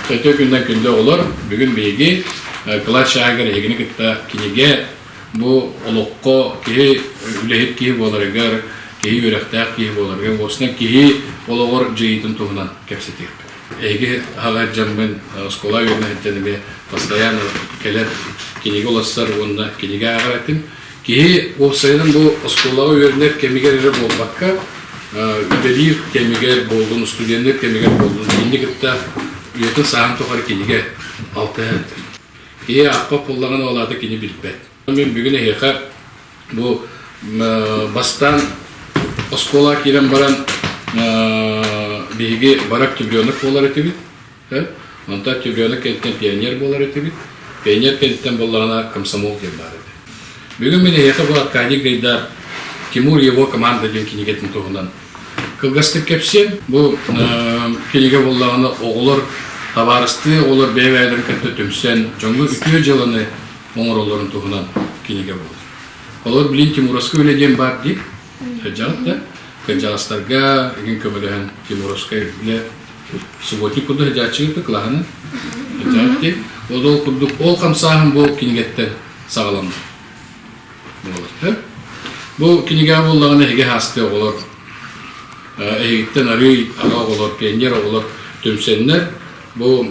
Төрдө күннэн күндү оҕолор, бүгүн биһиги э, Кылач Шагер эһигини кытта кинигэ бу олоххо киһи үлэһит киһи буоларыгар, киһи үөрэхтээх киһи буоларыгар, уостан киһи олоҕор дьиитин туһунан кэпсэтиэхпит. Эһиги аҕа дьаммын э, оскуола үөрэнэһиттэн эмиэ постоянно кэлэн кинигэ оларсар уонна кинигэ ааҕар этим. Киһи уопсайынан бу оскуолаҕа үөрэнэр кэмигэр эрэ буолбакка, үлэлиир кэмигэр буоллун, студеннар кэмигэр буоллун, кинини кытта үйэтин сааһын тухары кинигэ алтыһа сылдьар. Киһи ааппап буллаҕына ол аата кини билбэт. Мин бүгүн эһиэхэ бу бастаан оскуолаҕа киирэн баран биһиги барак чемпионок буолар этибит. Онтон Тюгена кэнниттэн пионер буолар этибит. Пионер кэнниттэн буоллаҕына комсомол диэн баар этэ. Бүгүн мин эһиэхэ бу Аркадий Гайдар Тимур его команда диэн кинигэтин туһунан кылгастык кэпсиэм. Бу кинигэ буоллаҕына оҕолор табаарыстыы оҕолор бэйэ-бэйэлэрин кытта түмсэн дьоҥҥо үтүө дьыаланы оҥороллорун туһунан кинигэ буолар. Олор билин Тимуровскай үлэ диэн баар дии. дьаһалта. Кырдьаҕастарга игин көмөлөһөн Тимуровскай билэ субботник курдук хадьааччыгыта кылаһаны дьаһалты ол ол курдук ол хамсааһын бу кинигэттен саҕаланна буолатты бу кинигэҕэ буоллаҕына эһиги хасты оҕолор эһигиттен арыый аҕа оҕолор пионер оҕолор түмсэннэр бу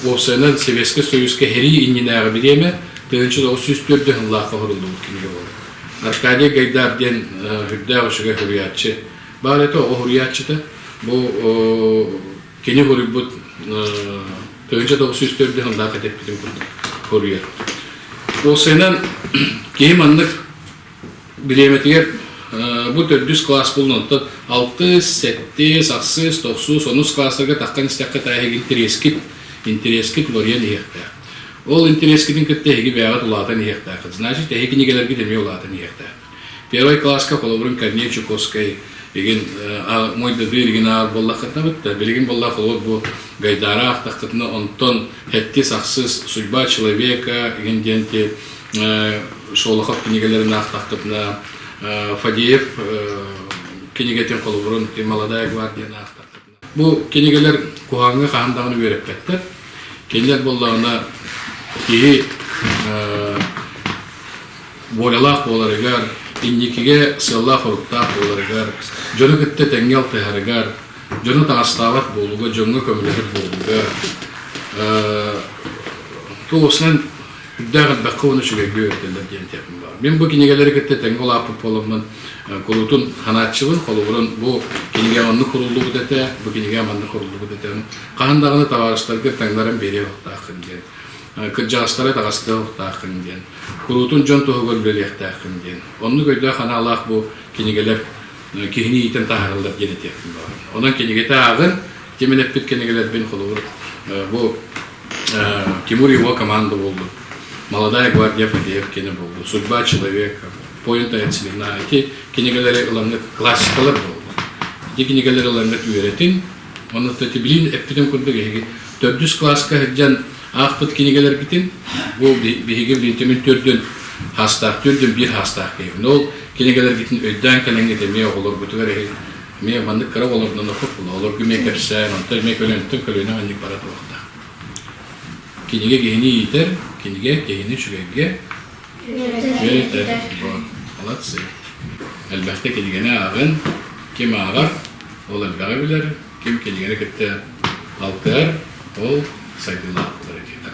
уопсайынан Советский Союзка херии иннинээҕи бириэмэ тыһынчы тоғыз сүүс төрдө хынлаахқа хоруллубут кинигэ буолар Аркадий Гайдар диэн үрдээх үчүгэй суруйааччы. Баар этэ оҕо суруйааччыта. Бу кини суруйбут тыһыынча тоҕус жүз төрдү сыллаах этэппитим курдук хоруйа. Ол сыынан киһи маннык бириэмэтигэр бу төрдүс класс булун онтон алтыс, сэттис, ахсыс, тохсус, онус класстарга тахтан истэххэ таа иһигин интэриэскит, интэриэскит уларыйан иһиэхтээх. Ол интэриэскитин кытта эһиги бэйэҕит улаатан иһиэхтээххит. Значит, эһиги кинигэлэргит эмиэ улаатан иһиэхтээххит. Первый класска холобурун Корней Чуковскай игин мой дады иригин аар боллаххытна бытта билигин болла холор бу гайдара ахтаххытына онтон хэттис ахсыс судьба человека игин диэнти шолохов кинигэлерин ахтахтытына Фадеев кинигетин холобурун молодая гвардияны ахтахтытына Бу кинигэлэр куһаҕаҥҥа хаһан даҕаны үөрэппэттэр. Кинилэр буоллаҕына киһи волялаах буоларыгар, инникигэ сыаллаах-соруктаах буоларыгар, дьону кытта тэҥҥэ алтыһарыгар, дьону таҥастаабат буолууга, дьоҥҥо көмөлөһөр буолууга, туох усунан Үрдээх элбэххэ уонна үчүгэйгэ өрдөллөр диэн этиэхпин баар. Мин бу кинигэлэри кытта тэҥҥэ улааппыт буоламмын, кулутун ханааччыбын, холобурун бу кинигэ маннык куруллубут этэ, бу кинигэ маннык куруллубут этэ. Хаһан даҕаны табаарыстарга таҥнаран биэриэ уохтааххын диэн. Кырдьаҕастары таҕыстыа уохтааххын диэн. Куруутун дьон туһугар үлэлиэхтээххин диэн. Оннук өйдөөх-анаалаах бу кинигэлэр киһини иитэн таһаараллар диэн этиэхпин баар. Онон кинигэтэ ааҕын, Ким элэппит кинигэлэрбин, холобур, бу Тимур его команда болды. Молодая гвардия Фадеев кино болды. Судьба человека, Поинта от смена. Эти кинигалары ыланнык классикалар болды. Эти кинигалары ыланнык үйретин, онно эти билин эппитин курдук эһиги төрдүс класска хажан аахпыт кинигаларбитин, бу биһиги билинтемин төрдүн хастаах түрдүн биир хастаах киһи. Ол кинигаларбитин өйдөөн кэлэҥҥит эмиэ оҕолорбутугар эһи эмиэ маннык кыра болорунан окуп олоргу эмиэ кэпсээн онтон эмиэ көлөнтөн көлөнө анньык бара туохта кинигэ киһини иитэр кинигэ киһини үчүгэйгэ үөтэр молодцы элбэхтэ кинигэни ааҕын ким ааҕар ол элбэҕи билэр ким кинигэни кытта алтыар ол сайдыылаахтар диэтэр